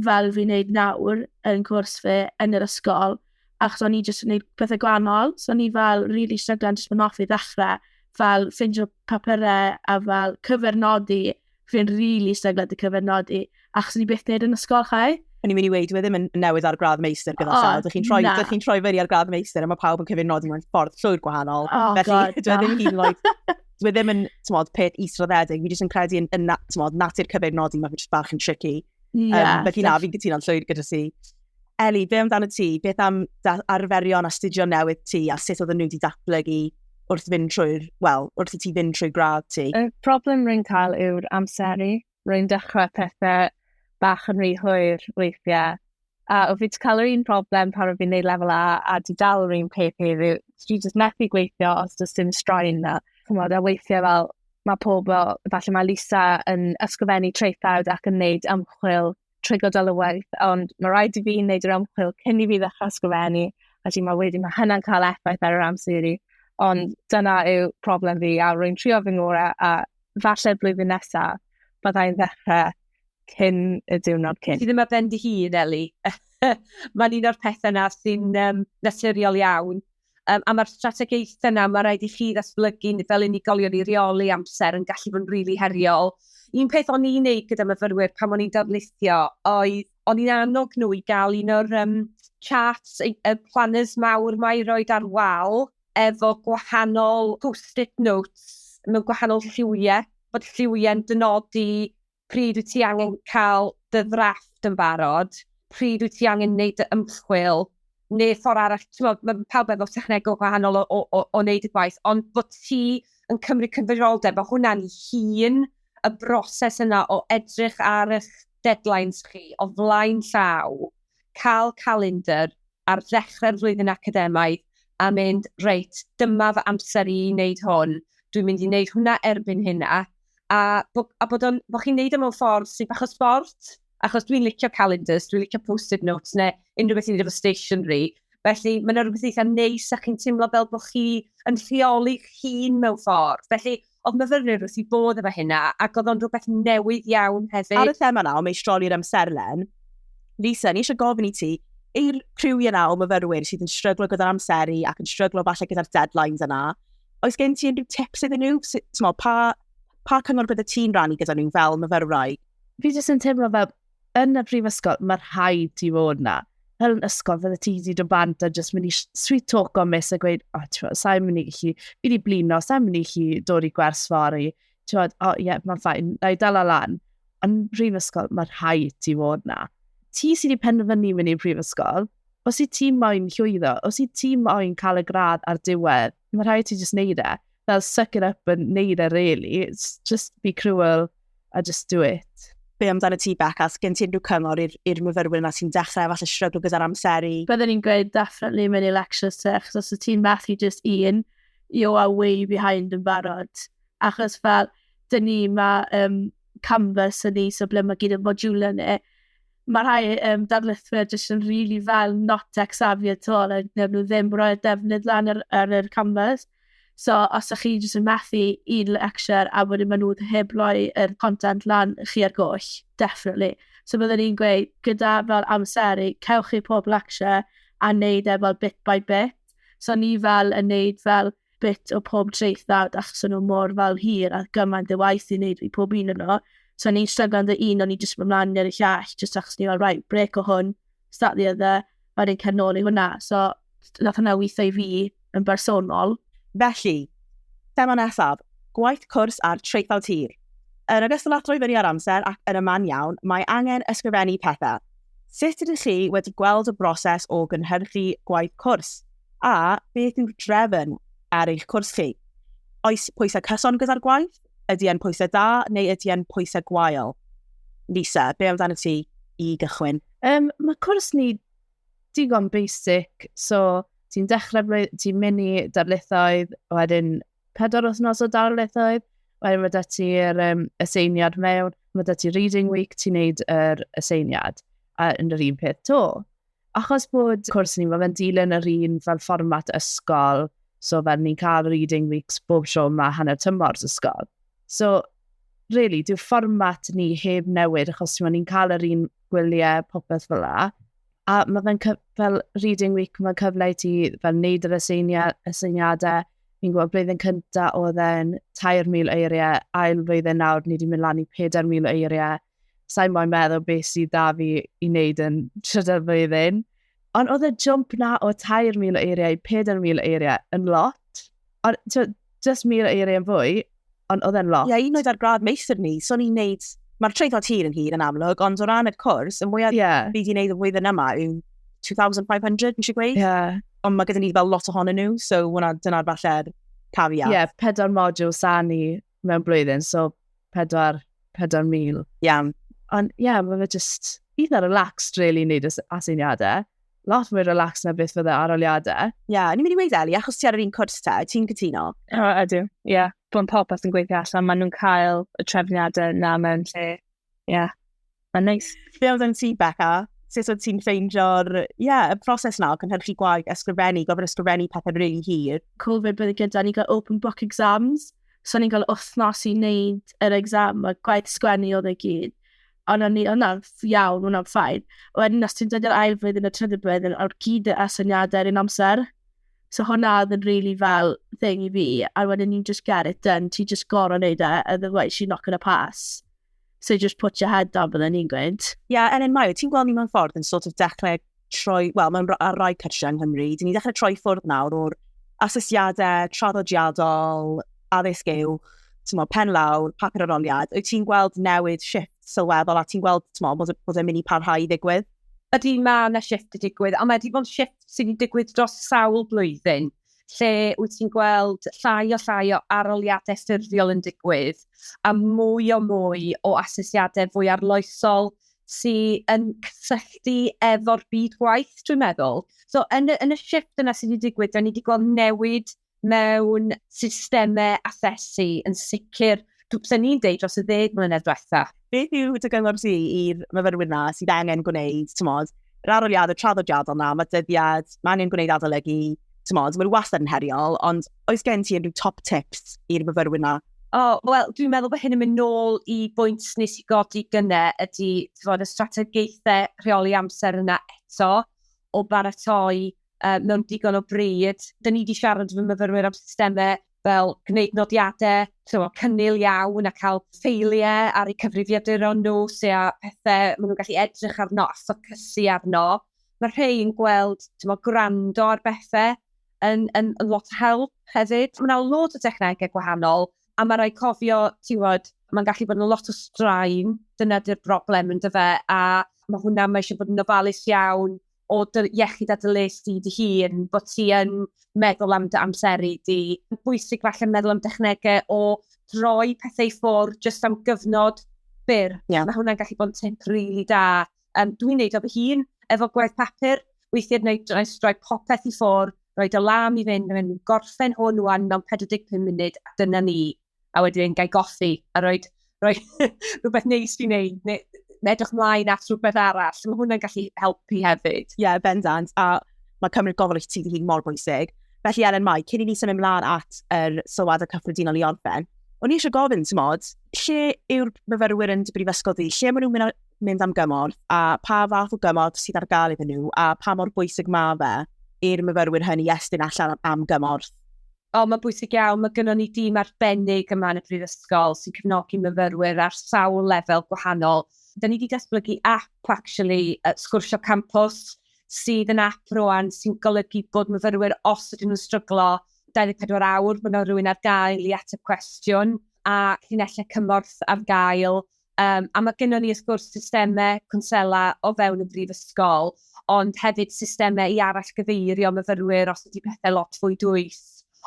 fel fi'n neud nawr yn cwrs fi yn yr ysgol, achos o'n i jyst yn neud pethe gwanol, so o'n i fel rili stryglan jyst mynd off i ddechre, fel ffindio papure a fel cyfeirnodi Fi'n rili really stryglo dy cyfernodi, achos ni beth neud yn ysgol, chai? O'n i'n mynd i weid, wedi mynd yn newydd ar gradd meistr gyda oh, Sel. Dych chi'n troi, dych chi'n troi fyny ar gradd meistr a mae pawb yn cyfyn nodi mewn ffordd llwyr gwahanol. Oh, Felly, God, dwi ddim hyn oed, dwi ddim yn, tymod, peth israddedig. Fi jyst yn credu yn, yn tymod, natur cyfyn nodi, mae fi jyst bach yn tricky. Yeah, um, felly na, fi'n cytuno'n llwyr gyda si. Ellie, be amdano ti? Beth am arferion astudio newydd ti a sut oedden nhw wedi datblygu wrth fynd trwy'r, wel, wrth i ti fynd trwy gradd ti? Y problem rwy'n cael yw'r amseru. Rwy'n dechrau pethau bach yn rhy hwyr weithiau. A o fi wedi cael yr un problem pan o fi'n neud lefel A a di dal yr un peth heddiw. Dwi jyst methu gweithio os does dim straen na. Chymod, a weithiau fel mae pobl, falle mae Lisa yn ysgrifennu traethawd ac yn neud ymchwil trwy gydol y waith, ond mae rhaid i fi wneud yr ymchwil cyn i fi ddechrau ysgrifennu, a ti'n meddwl wedyn mae hynna'n cael effaith ar yr amser i fi. Ond dyna yw problem fi, a rwy'n trio fy ngorau, a falle blwyddyn nesaf, byddai'n ddechrau cyn y diwrnod cyn. Ti ddim ar ben dy hun, Eli. Mae'n un o'r pethau na sy'n um, naturiol iawn. Yym, a mae'r strategaethau 'na, mae rhaid i chi ddatblygu fel unigolion i reoli amser yn gallu bod yn rili heriol. Un peth o'n i'n neud gyda myfyrwyr pan o'n i'n darlithio oedd o'n i'n annog nhw i gael un o'r um, charts, y planners mawr mae i roed ar wal efo gwahanol post-it notes mewn gwahanol lliwiau, bod lliwiau'n dynodi pryd wyt ti angen cael dy ddrafft yn barod, pryd wyt ti angen wneud dy ymchwil, neu ffordd arall, ti'n meddwl, mae pawb efo technegol gwahanol o, o, o, o wneud y gwaith, ond bod ti yn cymryd cyfrifoldeb, mae hwnna'n hun y broses yna o edrych ar eich deadlines chi o flaen llaw, cael calendr, ar ddechrau'r flwyddyn academaidd a mynd, reit, dyma fy amser i i wneud hwn, dwi'n mynd i wneud hwnna erbyn hyn a, a, bo, a bod, on, bod chi'n wneud o mewn ffordd sy'n bach o sbort, achos dwi'n licio calendars, dwi'n licio post-it notes neu unrhyw beth i wneud efo stationery, felly mae yna rhywbeth eitha' neis a chi'n teimlo fel bod chi yn rheoli'ch hun mewn ffordd, felly, Oedd myfyrwyr wrth i bodd efo hynna, ac oedd o'n rhywbeth newydd iawn hefyd. Ar y thema yna o meistroli'r amserlen, Lisa, ni eisiau gofyn i ti, i'r criw yna o myfyrwyr sydd yn stryglo gyda'r amseru ac yn stryglo falle gyda'r deadlines yna, oes gen ti unrhyw tips iddyn nhw? Mo, pa, pa cyngor bydde ti'n rannu gyda nhw fel myfyrwraig? Fi jyst yn teimlo fel yn y prifysgol, mae rhaid ti fod na. Fel yn ysgol, fydde ti wedi dod bant a jyst mynd i sweet talk o mis a gweud, o, oh, ti'n sa'n mynd i chi, fi wedi blino, sa'n mynd i chi dod i gwers fori. Ti'n fawr, o, oh, ie, yeah, mae'n ffain, na i dal lan. Yn prifysgol, mae rhaid ti fod na. Ti sydd wedi penderfynu mynd i'r prifysgol, os i ti moyn llwyddo, os i ti moyn cael y gradd ar diwedd, mae rhaid ti jyst neud e. Fel suck it up and neud e, really. It's just be cruel a just do it be amdano ti Bec, a gen ti unrhyw cyngor i'r myfyrwyr yma sy'n dechrau falle strygl gyda'r amseru? Byddwn ni'n gweud definitely mewn i lectures te, achos os y ti'n methu just un, you are way behind yn barod. Achos fel, dyn ni mae um, canvas yn ni, so ble mae gyd yn modiwlau ni, Mae rhai um, darlithwyr jyst yn rili really fel not tech savvy at all, a neu nhw ddim roi'r defnydd lan ar, ar yr canvas. So, os ydych chi jyst yn methu un lecture a wedyn maen nhw heb roi yr content lan chi ar goll, definitely. So byddwn i'n gweud, gyda fel amseru, cewch chi pob lecture a wneud e fel bit by bit. So ni fel yn wneud fel bit o pob traethawd achos o'n nhw mor fel hir a gymaint y waith i wneud i pob un yno. So o'n i'n stryglan dy un o'n i jyst mynd mlaen i'r llall jyst achos ni fel right break o hwn, start the other, a wedyn cer nôl i hwnna. So nath hwnna weithio i fi yn bersonol. Felly, thema nesaf, gwaith cwrs ar traethawd hir. Yn ogystal â throi fyny ar amser ac yn y man iawn, mae angen ysgrifennu pethau. Sut ydych chi wedi gweld y broses o gynhyrchu gwaith cwrs? A beth yw'r drefn ar eich cwrs chi? Oes pwysau cyson gyda'r gwaith? Ydy e'n pwysau da neu ydy e'n pwysau gwael? Lisa, be amdano ti i gychwyn? Um, mae cwrs ni digon basic, so ti'n dechrau blwyddyn, ti'n mynd i darlithoedd, wedyn pedwar wythnos o darlithoedd, wedyn mae da ti'r um, aseiniad mewn, mae da ti reading week, ti'n neud yr aseiniad, a yn yr un peth to. Achos bod cwrs ni, mae fe'n dilyn yr un fel fformat ysgol, so fel ni'n cael reading weeks bob tro mae hanner tymor ysgol. So, really, dyw fformat ni heb newid, achos ti'n ni'n cael yr un gwyliau popeth fel la. A mae fe'n fel reading week, mae'n cyfle i ti fel wneud yr aseiniadau. Fi'n gwybod blwyddyn cyntaf oedd e'n 3,000 eiriau, ail flwyddyn nawr ni wedi mynd lan i 4,000 eiriau. sa'n moyn meddwl beth sydd da fi i wneud yn trydedd flwyddyn. Ond oedd y jump na o 3,000 o eiriau i 4,000 o eiriau yn lot. Ond just 1,000 o eiriau yn fwy, ond oedd e'n lot. Ie, yeah, un oedd ar gradd meithr ni, so ni'n neud... Mae'r treithod hir yn hir yn amlwg, ond o ran y cwrs, y mwyaf yeah. fi wedi wneud y flwyddyn yma yw 2,500, nes i gweud. Yeah. Ond mae gyda ni fel lot ohonyn nhw, so dyna'r falle'r caveat. Ie, yeah, pedwar module sa ni mewn blwyddyn, so 4, 4,000. Iawn. Ond ie, yeah, mae fe just eitha relaxed, really, wneud aseiniadau. Lot mwy relaxed na beth fydde aroliadau. Ie, yeah, ni'n mynd i weid Eli, achos ti ar yr un cwrs ta, ti'n cytuno? O, ydw, ie. Yeah. Bo'n popeth yn gweithio allan, maen nhw'n cael y trefniadau na mewn lle Ie, yeah. mae'n neis. Be oedd yn ti, Becca? Sut oedd ti'n ffeindio'r yeah, y proses na o cynhyrchu gwaith, ysgrifennu, gofyn ysgrifennu pethau rili really hir? Covid bydd gyda ni gael open book exams, so ni'n cael wythnos i wneud yr exam, a gwaith sgwennu oedd ei gyd. Ond o'n ni, o'na'n iawn, o'na'n ffain. Wedyn, os ti'n dod i'r ail flwyddyn y trydydd blwyddyn, o'r gyd y asyniadau yr un amser. So hwnna oedd yn really fel thing i fi, a wedyn ni'n just get it done, ti just gorau wneud e, otherwise you're not going to pass. So just put your head down, bydden ni'n gweud. Ie, yeah, Ellen Mayo, ti'n gweld ni mewn ffordd yn sort of dechrau troi, wel, mewn ar rai cyrsiau yng Nghymru, dyn ni dechrau troi ffwrdd nawr o'r asesiadau traddodiadol, addysg yw, ti'n meddwl, pen lawr, papur aroliad, wyt ti'n gweld newid shift sylweddol a ti'n gweld, ti'n meddwl, bod e'n mynd i parhau i ddigwydd? Ydy, mae yna shift wedi digwydd, ond mae wedi bod yn shift sydd wedi digwydd dros sawl blwyddyn, lle wyt ti'n gweld llai a llai o arholiadau ffurfiol yn digwydd, a mwy a mwy o asesiadau fwy arloesol sydd yn cysylltu efo'r byd gwaith, dwi'n meddwl. So, yn y shift yna sydd wedi digwydd, dan ni wedi gweld newid mewn systemau asesu yn sicr, dwi ni'n deud dros y ddeg mlynedd diwetha'. Beth yw dy gyngor ti i'r myfyrwyr 'na sydd angen gwneud, t'mod, yr aroliadau traddodiadol 'na, ma' dyddiad, ma' angen gwneud adolygu, t'mod, maen nhw wastad yn heriol, ond oes gen ti unrhyw top tips i'r myfyrwyr 'na? O, wel, dwi'n meddwl bod hyn yn mynd nôl i bwynt nes i godi gyne ydy, t'mod, y strategaethau rheoli amser yna eto o baratoi uh, mewn digon o bryd. Dyn ni wedi siarad fy myfyrwyr am systemau fel gwneud nodiadau, so, cynnil iawn a cael ffeiliau ar eu cyfrifiaduron nhw, sy'n a pethau maen nhw'n gallu edrych arno a ffocysu arno. Mae rhai yn gweld tymo, gwrando ar bethau yn, yn, yn lot o help hefyd. Mae yna lot o dechnegau gwahanol a mae rhai cofio, ti'n mae'n gallu bod yn lot o straen, dyna di'r broblem yn dyfe, a mae hwnna, mae eisiau bod yn ofalus iawn o dy iechyd a dy les di dy hun, bod ti yn meddwl am dy amseru di. Mae'n bwysig falle meddwl am dechnegau o droi pethau i ffwrdd jyst am gyfnod byr. Yeah. Mae hwnna'n gallu bod yn tip rili really da. Um, dwi'n neud o fy hun efo gwaith papur, weithiau wneud droi, droi popeth i ffwrdd, rhoi dy lam i fynd, mynd gorffen hwn wan mewn 45 munud, a dyna ni. a wedyn gael goffi, a rhoi, rhoi rhywbeth neis i wneud, neu edrych mlaen at rhywbeth arall. Mae hwnna'n gallu helpu hefyd. Ie, yeah, bendant, a mae cymryd gofal i ti hun mor bwysig. Felly, Elen Mai, cyn i ni symud ymlaen at yr er sylwad y cyffredinol i orffen, o'n i eisiau gofyn, ti'n modd, lle yw'r myfyrwyr yn dy brifysgol di? Lle maen nhw'n mynd am gymorth a pa fath o gymorth sydd ar gael iddyn nhw a pa mor bwysig mae fe i'r myfyrwyr hynny estyn allan am gymorth? O, mae'n bwysig iawn. Mae gynnon ni dîm arbennig yma yn y Brifysgol sy'n cefnogi myfyrwyr ar sawl lefel gwahanol. Dan ni 'di datblygu ap actually, Sgwrsio Campws, sydd yn ap rŵan sy'n golygu bod myfyrwyr, os ydyn nhw'n stryglo 24 awr, bod 'na rywun ar gael i ateb cwestiwn, a llinellau cymorth ar gael Um, a mae gennym ni, wrth gwrs, systemau cwnsela o fewn y brifysgol, ond hefyd systemau i arall gyfeirio myfyrwyr os ydy pethau lot fwy dwyll.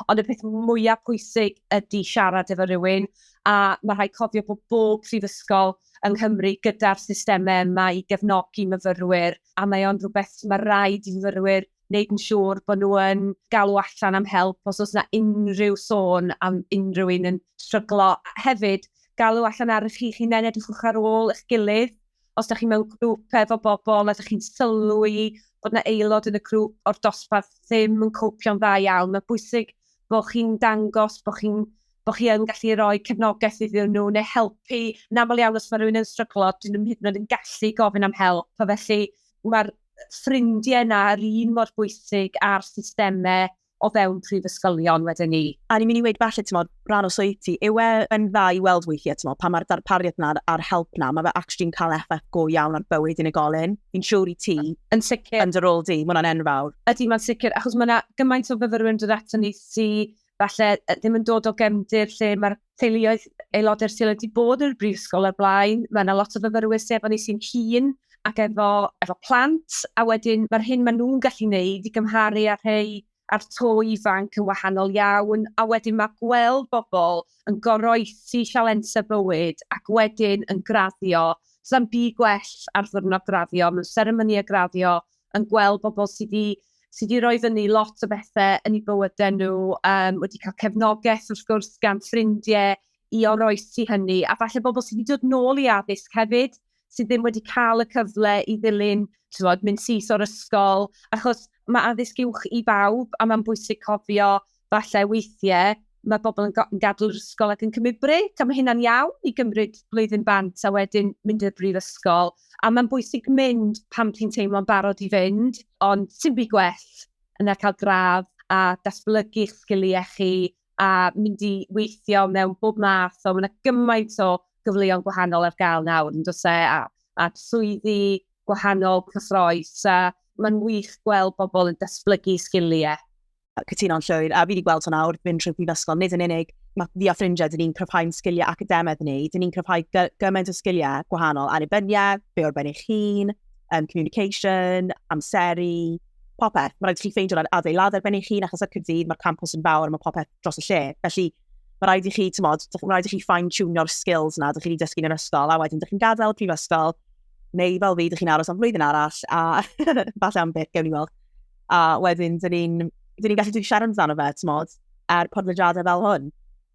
Ond y peth mwyaf pwysig ydy siarad efo rhywun, a mae rhaid cofio bod bob prifysgol yng Nghymru gyda'r systemau yma i gefnogi myfyrwyr, a mae o'n rhywbeth mae rhaid i fyfyrwyr wneud yn siŵr bod nhw yn galw allan am help os oes yna unrhyw sôn am unrhyw un yn stryglo. Hefyd, galw allan ar chi hunain, edrychwch ar ôl eich gilydd. Os da chi mewn grŵp efo bobl a da chi'n sylwi bod yna aelod yn y grŵp o'r dosbarth ddim yn copio'n dda iawn, mae'n bwysig bod chi'n dangos bod chi'n bod chi yn gallu rhoi cefnogaeth iddyn nhw neu helpu. Yn aml iawn, os mae rhywun yn stryglo, dyn nhw'n hyd yn oed yn gallu gofyn am help. A felly, mae'r ffrindiau yna yr un mor bwysig â'r systemau o fewn prifysgolion wedyn ni. A ni'n mynd i weud falle, timod, rhan o swydd ti, yw e yn dda i weld weithiau, timod, pan mae'r darpariaeth yna a'r help yna, mae fe actually'n cael effaith go iawn ar bywyd unigolyn. Fi'n siŵr i ti, yn sicr, yn dy rôl di, mae hwnna'n enfawr. Ydy, mae'n sicr, achos mae yna gymaint o fyfyrwyr yn dod ato ni sy falle ddim yn dod o gefndir lle mae'r teuluoedd aelodau'r teulu wedi bod yn y brifysgol ar blaen. Mae yna lot o fyfyrwyr sydd efo ni sy'n hun ac efo, efo plant, a wedyn mae'r hyn maen nhw'n gallu wneud i gymharu â'r rhai a'r to ifanc yn wahanol iawn, a wedyn mae gweld bobl yn goroesi sialensau bywyd ac wedyn yn graddio, sa'n byd gwell ar ddiwrnod graddio, mewn seremonïau graddio, yn gweld bobl sy 'di sy 'di roi fyny lot o bethe yn eu bywyde nhw, um, wedi cael cefnogaeth wrth gwrs gan ffrindie i oroesi hynny, a falle bobl sy wedi dod nôl i addysg hefyd, sydd ddim wedi cael y cyfle i ddilyn, ti'n bod, mynd syth o'r ysgol, achos mae addysg uwch i bawb, a mae'n bwysig cofio Falle weithiau mae pobl yn yn gadw'r ysgol ac yn cymryd brêc, a mae hynna'n iawn i gymryd blwyddyn bant a wedyn mynd i'r brifysgol, a mae'n bwysig mynd pan ti'n teimlo'n barod i fynd, ond sim byd gwell na cael gradd a datblygu eich sgiliau chi a mynd i weithio mewn bob math o, mae 'na gymaint o gyfleon gwahanol ar gael nawr yn does e, a a swyddi gwahanol cyffroes a mae'n wych gweld pobl yn datblygu sgiliau. cytuno'n llwyr, a fi wedi gweld hwn nawr, mynd trwy prifysgol, nid yn unig, mae fi a ffrindiau, dyn ni'n cryfhau'n sgiliau academaidd ni, dyn ni'n cryfhau gymaint o sgiliau gwahanol, annibyniaeth, be o'r ben eich hun, um, communication, amseru, popeth. Mae rhaid i chi ffeindio rhaid adeilad ar ben eich hun, achos ar Cyrdydd mae'r campus yn fawr, mae popeth dros y lle. Felly, mae rhaid i chi, ti'n modd, mae rhaid i chi fine-tunio'r skills na, dych chi wedi dysgu yn yr ysgol, a wedyn dych chi'n gadael prifysgol, neu fel fi, dych chi'n aros am flwyddyn arall, a falle am beth, gewn ni weld. a wedyn dyn ni'n ni gallu dweud siarad amdano fe, ti'n modd, ar er podlediadau fel hwn.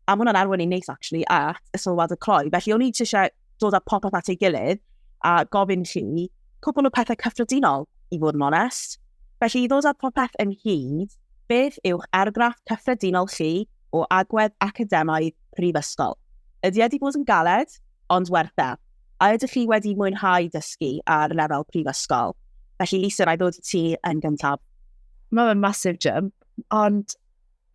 A mae hwnna'n arwain i'n neis, actually, at y sylwad y cloi. Felly, o'n i eisiau dod â popeth at ei gilydd a gofyn chi cwbl o pethau cyffredinol, i fod yn onest. Felly, i ddod â popeth yn hyd, beth yw'ch argraff cyffredinol chi o agwedd academaidd prifysgol? Ydy wedi bod yn galed, ond werth e. A ydych chi wedi mwynhau dysgu ar lefel prifysgol? Felly Lisa, na i ddod i ti yn gyntaf. Mae fe'n massive jump, ond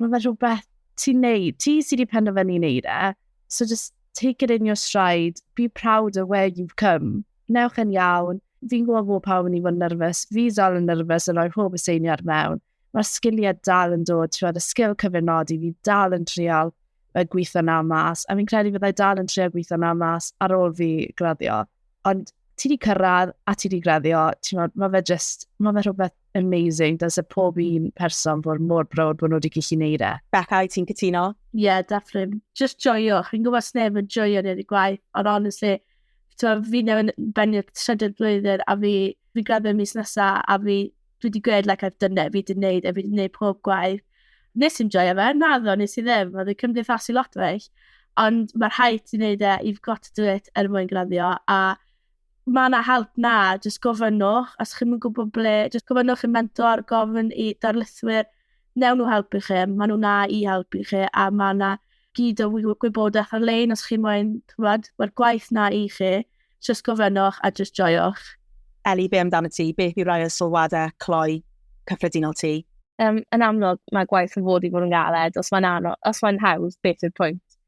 mae fe rhywbeth ti'n neud, ti sydd wedi penderfynu neud e, so just take it in your stride, be proud of where you've come. Newch yn iawn, fi'n gwybod bod pawb yn ei fod yn nyrfys, fi dal yn nyrfys yn rhoi pob aseiniad mewn, mae'r sgiliau dal yn dod, ti'n y sgil cyfynodi, fi dal yn trial y gweithio na mas, a fi'n credu fyddai dal yn trial gweithio na mas ar ôl fi graddio. Ond ti wedi cyrraedd a ti wedi graddio, ti'n meddwl, mae fe just, mae fe rhywbeth amazing, does y pob mm. un person fod mor brod bod nhw wedi gallu neud e. Becca, i ti'n cytuno? Ie, yeah, definitely. Just joio. Fi'n gwybod sneb yn joio neu wedi gwaith, ond honestly, fi newydd bennu'r trydydd blwyddyn a fi, fi graddio mis nesaf a fi dwi wedi gwneud like I've done it, fi wedi gwneud e, fi wedi gwneud pob gwaith. Nes i'n joio fe, na ddo, nes i ddim, oedd yn cymdeithasu lot o eich. Ond mae rhaid ti wneud e, you've got to do it er mwyn graddio. A mae yna help na, jyst gofynnwch, os chi'n mynd gwybod ble, jyst gofynnwch i'n mentor, gofyn i darlithwyr, newn nhw helpu chi, mae nhw na i helpu chi, a mae yna gyd o gwybodaeth ar-lein os chi'n moyn, ti'n mae'r gwaith na i chi. Jyst gofynnwch a jyst joiwch. Ellie, be amdano ti? Beth yw rhai o sylwadau cloi cyffredinol ti? Um, yn amlwg, mae gwaith yn fod i fod yn galed. Os mae'n anodd, os mae'n hawdd, beth yw'r pwynt?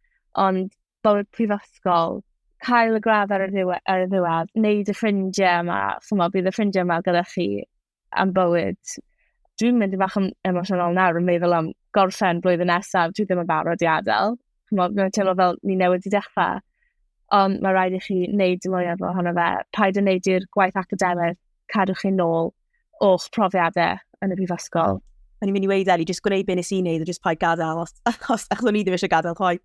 Ond bywyd prifysgol, cael y gradd ar y ddiwedd, ar y ddiwedd wneud y ffrindiau yma, chymod, bydd y ffrindiau yma gyda chi am bywyd. Dwi'n mynd i fach yn emosiynol nawr yn meddwl am gorffen blwyddyn nesaf, dwi ddim yn barod i adael. Chymod, mae'n teimlo fel ni newydd i dechrau. Ond mae rhaid i chi wneud y mwyaf ohono fe. Paid yn wneud i'r gwaith academaidd cadw chi'n nôl o'ch profiadau yn y brifysgol. O'n i'n mynd i weid Eli, jyst gwneud beth nes i'n neud, a jyst paid gadael, os, os, achos o'n i ddim eisiau gadael chwaith.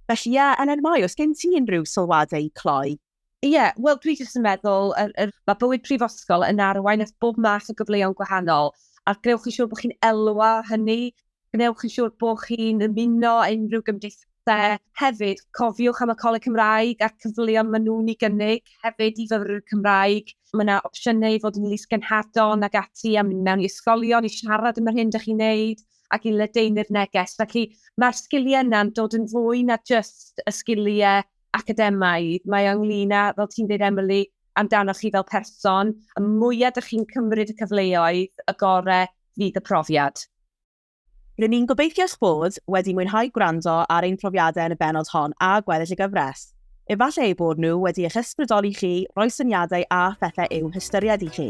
Felly, ie, yeah, Elen Mai, os gen ti unrhyw sylwadau i cloi? Ie, yeah, wel dwi jyst yn meddwl, er, er, mae bywyd prifysgol yn arwain at bob math o gyfleoedd gwahanol, a gwnewch yn siŵr bod chi'n elwa hynny, gwnewch yn siŵr bod chi'n ymuno unrhyw gymdeithasau. Hefyd, cofiwch am y Coleg Cymraeg a'r cyfleoedd maen nhw'n ei gynnig hefyd i fyfyrwyr Cymraeg. Mae yna opsiynau i fod yn lys genhadon ac ati a mynd mewn i ysgolion i siarad am yr hyn ydych chi'n neud ac i ledaenu'r neges. Felly, mae'r sgiliau yna'n dod yn fwy na jyst y sgiliau academaidd, mae o ynglŷn â, fel ti'n dweud Emily, amdanoch chi fel person, y mwyaf dych chi'n cymryd y cyfleoedd, y gorau fydd y profiad. Rŷn ni'n gobeithio eich bod wedi mwynhau gwrando ar ein profiadau yn y bennod hon a gweddill y gyfres. Efallai eu bod nhw wedi eich ysbrydoli chi, rhoi syniadau a phethau i'w hystyried i chi.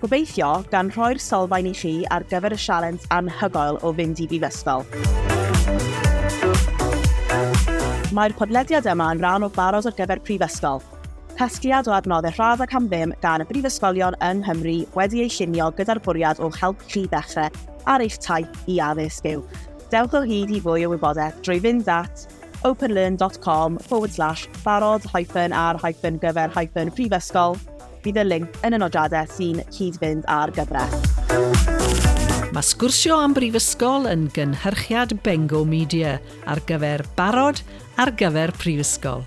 Gobeithio, gan rhoi'r sylfaen i chi ar gyfer y sialens anhygoel o fynd i brifysgol. Mae'r podlediad yma yn rhan o Barod ar gyfer Prifysgol, casgliad o adnoddau rhad ac am ddim gan y brifysgolion yng Nghymru wedi ei llunio gyda'r bwriad o'ch helpu chi ddechrau ar eich taith i addysg yw. Dewch o hyd i fwy o wybodaeth drwy fynd at openlearn.com forward slash barod hyphen ar hyphen gyfer hyphen prifysgol Bydd y linc yn y nodiadau sy'n cyd-fynd â'r gyfres. Mae Sgwrsio am Brifysgol yn gynhyrchiad Bengo Media ar gyfer barod ar gyfer prifysgol.